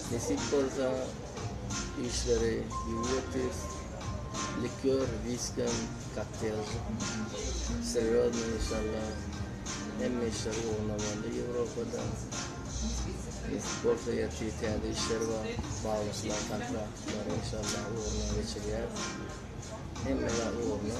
Nesip bolsa işleri ýüňli etdis. Likör, whiskem, kokteýl. Serýozny inşallah. Hemme işler ugruna boldy Ýewropada. Nesip bolsa ýerki täze işler bar. Baglaşylan kontraktlar inşallah ugruna geçirýär. Hemme zat ugruna.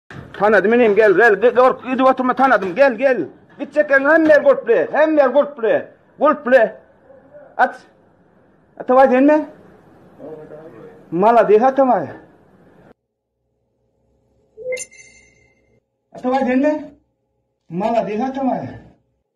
Tanadym inim gel gel gork gidip oturma tanadym gel gel. Gitjek ýeriň hemme ýer gurply hemme ýer gurply gurply. At. Ataway senmi? Malades Ataway. Ataway senmi? Malades Ataway.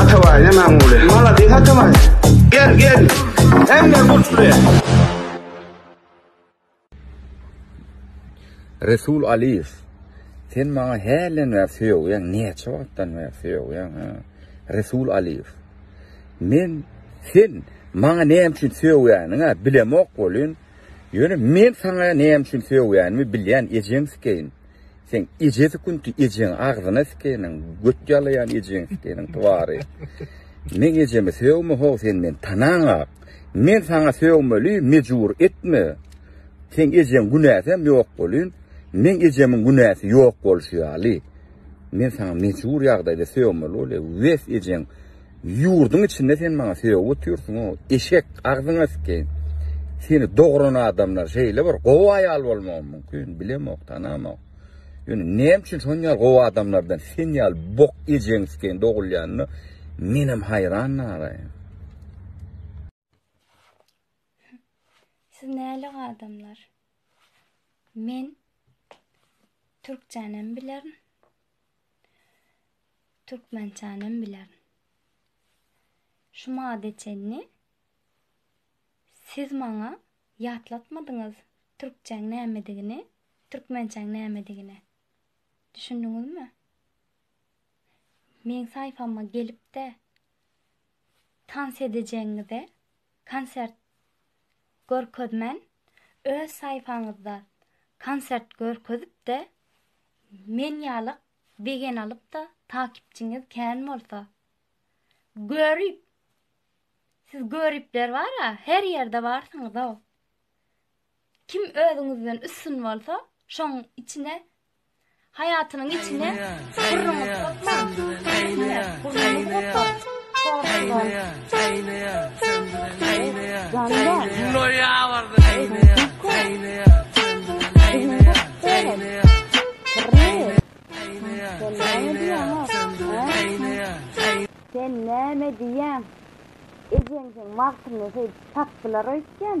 Atabaý ne Magmuly. Maladis Atabaý. Gel gel. Hemme gurtly. Resul Aliyev. Sen maňa hälden bäri söýýäň, näçe wagtdan bäri söýýäň? Resul Aliyev. Men sen maňa näme üçin söýýäniňi bilemok bolýan. Ýöne men saňa näme üçin söýýänimi bilýän ejeň sikeýin. Seň eje sükunti ejeň agzyna sikeniň göt ýalaýan ejeň sikeniň twary. Meň ejemi sögme ho sen men tanaňak. Men saňa sögmeli mejbur etme. Seň ejeň günäsem ýok bolyn. Meň ejemiň günäsi ýok bolşy ýaly. Men saňa mejbur ýagdaýda sögmeli bolýa wes ejeň Ýurdyň içinde sen maňa söýe otyrsyň o eşek agzyňa sikeýin seni dogran adamlar şeýle bir gowy aýal bolmagy mümkin bilemok tanamok ýöne näme üçin şon ýaly gowy adamlardan sen ýaly bok ejeň sikeýin dogulýanyna menem haýran nara. Siz nälik adamlar? Men türkçänem bilerin. Türkmençänem bilerin. Şu mada çenli siz maňa ýatlatmadyňyz türkçäň nämedigini, türkmençäň nämedigini. Düşündiňizmi? Meň saýfama gelip-de tans edejegiňize konsert görkezmän, öz saýpaňyzda konsert görkezip-de, men ýaly begeni alyp-da, takipçiňiz kän bolsa, görip, siz göripler bar-a, her ýerde barsyňyz-ow. Kim özüňizden üstün bolsa, şoň içine Haýatynyň içine syrryňy sokma, üstüne gürrüňi gopa. Sen näme diýýäň? Ejeňiň wagtyny söýdüp tapdylar öýtýän.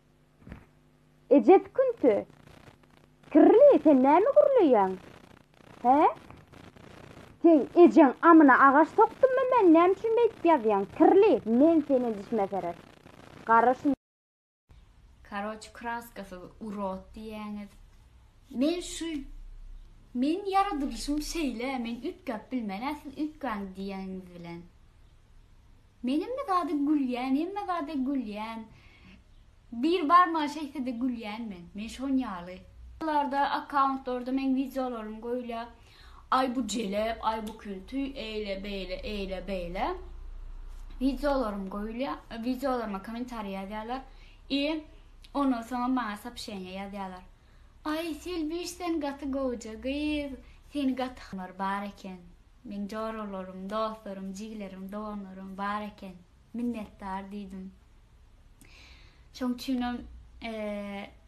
Eje sükünti. Kirli, sen näme gürleýäň? Hä? Sen ejeň amyna agaç sokdummy men, näme üçin beýdip ýazýaň? Kirli, men seni dişime serer. Gara şun. Karoç kraskasyz urod diýýäňiz. Men şu Meniň ýaradylyşym şeýle, men üýtgäp bilmen-ä siz üýtgäň diýeniňiz bilen. Men hemme zada gülýän, hemme zada gülýän. Bir barmaga şeýtsede gülýän men. Men şon ýaly. Larda akkauntlarda meň wideolarym goýulýa. Aý bu jelep, aý bu künti, eýle beýle, eýle beýle. Wideolarym goýulýa. Wideolaryma kommentariý ýazýalar. I ondan soňam maňa sapşeniýa ýazýalar. Aý Selbiş sen gaty gowja gyz, seni gaty bar eken. Meň joralarym, dostlarym, jigilerim, doganlarym bar eken. Minnetdar diýdim. Şoň üçinem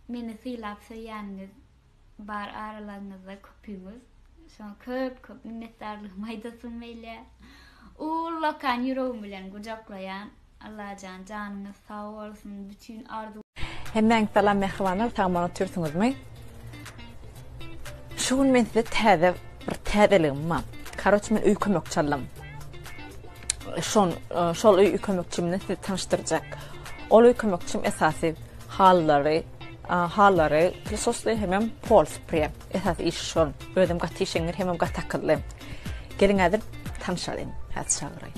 meni sylap söýýäniňiz bar aralaryňyzda köpüňiz. Şoňa köp köp minnetdarlygymy aýdasym gelýär. Ullakan ýüregim bilen gujaklaýan. Allajan janyňyz sag bolsun bütün arzuw. Hemmäňiz salam mähribanlar sag boluň otyrsyňyzmy şu gün men size täze bir täzeligim bar karoç men öý kömekçi aldym şon şol öý kömekçim bilen sizi tanyşdyrjak ol öý kömekçim esasy hallary hallary prisosly hemem pol spre esasy iş şol özüm gaty işeňňir hemem gaty akylly geliň häzir tanşalyň häzir çagyraýyn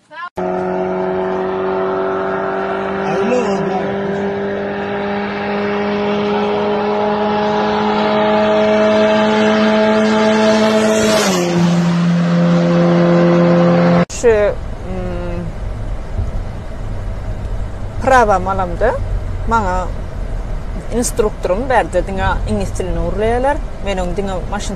Şu prawam alamda maňa instruktorum berdi diňe iňlis dilini gurlaýarlar. Men oň diňe maşyn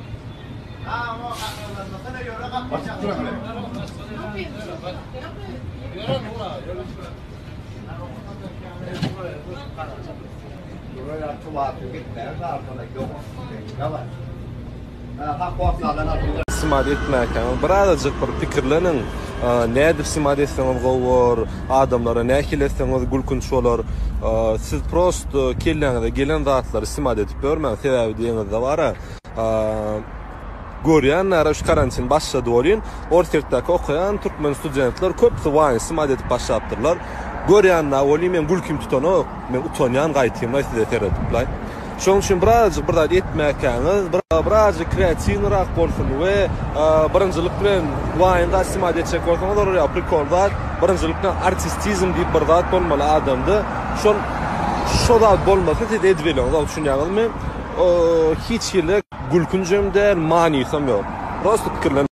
Simat etmäkäň birazajyk bir pikirleniň nädip simat etseňiz gowy bolar, adamlara nähili etseňiz gülkünç bolar. Siz prosto kelläňize gelen zatlary simat edip ýörmäň, sebäbi deňizde bara. Görýänlere şu karantin başlady welin, Orsyýetdäki okaýan türkmen studentler köpüsi waýnsy mazy edip başlapdyrlar. Görýän-ä welin meň gülkim tutanok. Men utanýan gaýtym-laý size seredip-laý. Şonuň üçin birazajyk bir zat etmäkäňiz, birazajyk kreatiwnyrak bolsun we birinjilik bilen waýn gaýtsy mazy etjek bolsaňyz olar ýa prikol zat, birinjilik bilen artistizm diýip bir zat bolmaly adamda. Şol, şo zat bolmasa siz edip elýogsyňyz-a, düşünýäňizmi? Hiç hili gülkünjem däl, manysam ýok. Prosta pikirlenip.